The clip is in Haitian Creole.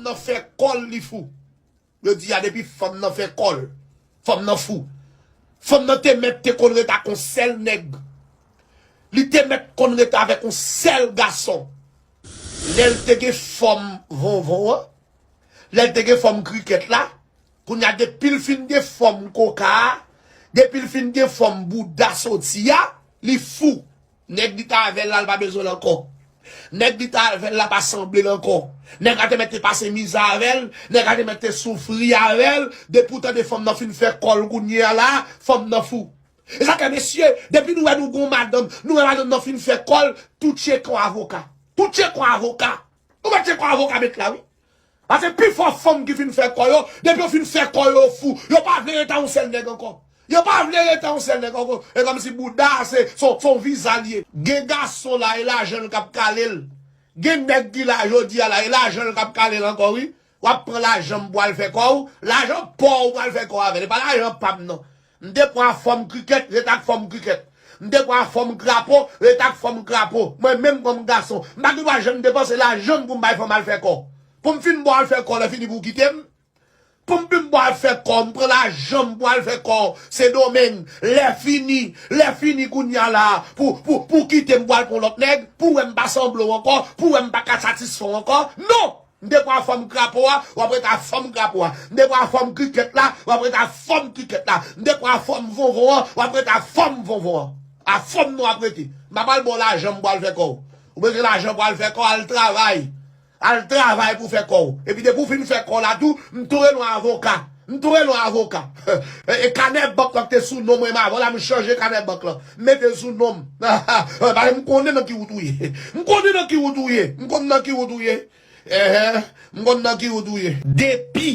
nan fè kòl li fou. Yo di a depi fanm nan fè kòl, fanm nan fou. Fanm nan te mèt te konn ret ak yon sèl nèg. Li te mèt konn ret avèk yon sèl gason. Lè l te gen fòm vonvon an, lè l te gen fòm krikèt la, kounye a depi l fin gen fòm koka a, depi l fin gen fòm bouda soti a, li fou. Nèg li ta avèl la li pa bezwenl ankò nèg li ta avèl la pa sanblel ankò nèg la te mèt te pase mizè avèl nèg la te mèt te soufri avèl depi ou tande fanm nan fin fè kòl kounyea la fanm nan fou esa fè mesye depi nou wè nou gon madanm nou wè madanm nan fin fè kòl tou tchekon avoka tou tchekon avoka nou wè tchekon avoka met la wi Pase pifò fanm ki fin fè kò yo, depi yo fin fè kò yo yo fou, yo pa vle rete a yon sèl nèg ankò. Yo pa vle rete a yon sèl nèg ankò, e kòm si bouda a se se yon viza li ye. Gen gason la e lajan l k ap kale l, gen nèg ki la jodi a la e lajan l k ap kale l ankò wi. W ap pran lajan m pou w al fè kò w, lajan paw ou pral fè kò avè l, e pa lajan pa m nan. M te pran fòm krikèt, ret ak fòm krikèt. M te pran fòm krapo, ret ak fòm krapo. Mwen menm kòm gason, m pa gen dwa janm depanse lajan m pou m bay fanm al fè kò. Pou m fin bo al fè kò lè fini pou w kite m. Pou m fin bo al fè kò, m pran lajan m pou al fè kò Sendomeng. Lè fini, lè fini kounya la a pou, pou, pou w kite m pou w al pran yon lòt nèg, pou w wè m pa sanble w ankò, pou w wè m pa ka satisfè w ankò. Non! M te pran fòm krapo a, w ap ret ak fòm krapo a. M te pran fòm krikèt la, w ap ret ak fòm krikèt la. M te pran fòm vonvon an, w ap ret ak fòm vonvon an. Ak fòm nou ap rete. M pa pral ba w lajan m pou w al fè kò w. Ou bezwen lajan pou w al fè kò, al travay. Al travay pou w fè kò w. Epi depi w fin fè kò w la tou, m toure nou avoka. M tou renmen w avoka. E kanè bank lan ki te sou non mwen menm avan la m chanje kanè bank lan. M mete l sou non m. Paske m konnen nan ki wout ou ye. M konnen nan ki wout ou ye. M konn nan ki wout ou ye. Ehe. M konn nan ki wout ou ye. Depi.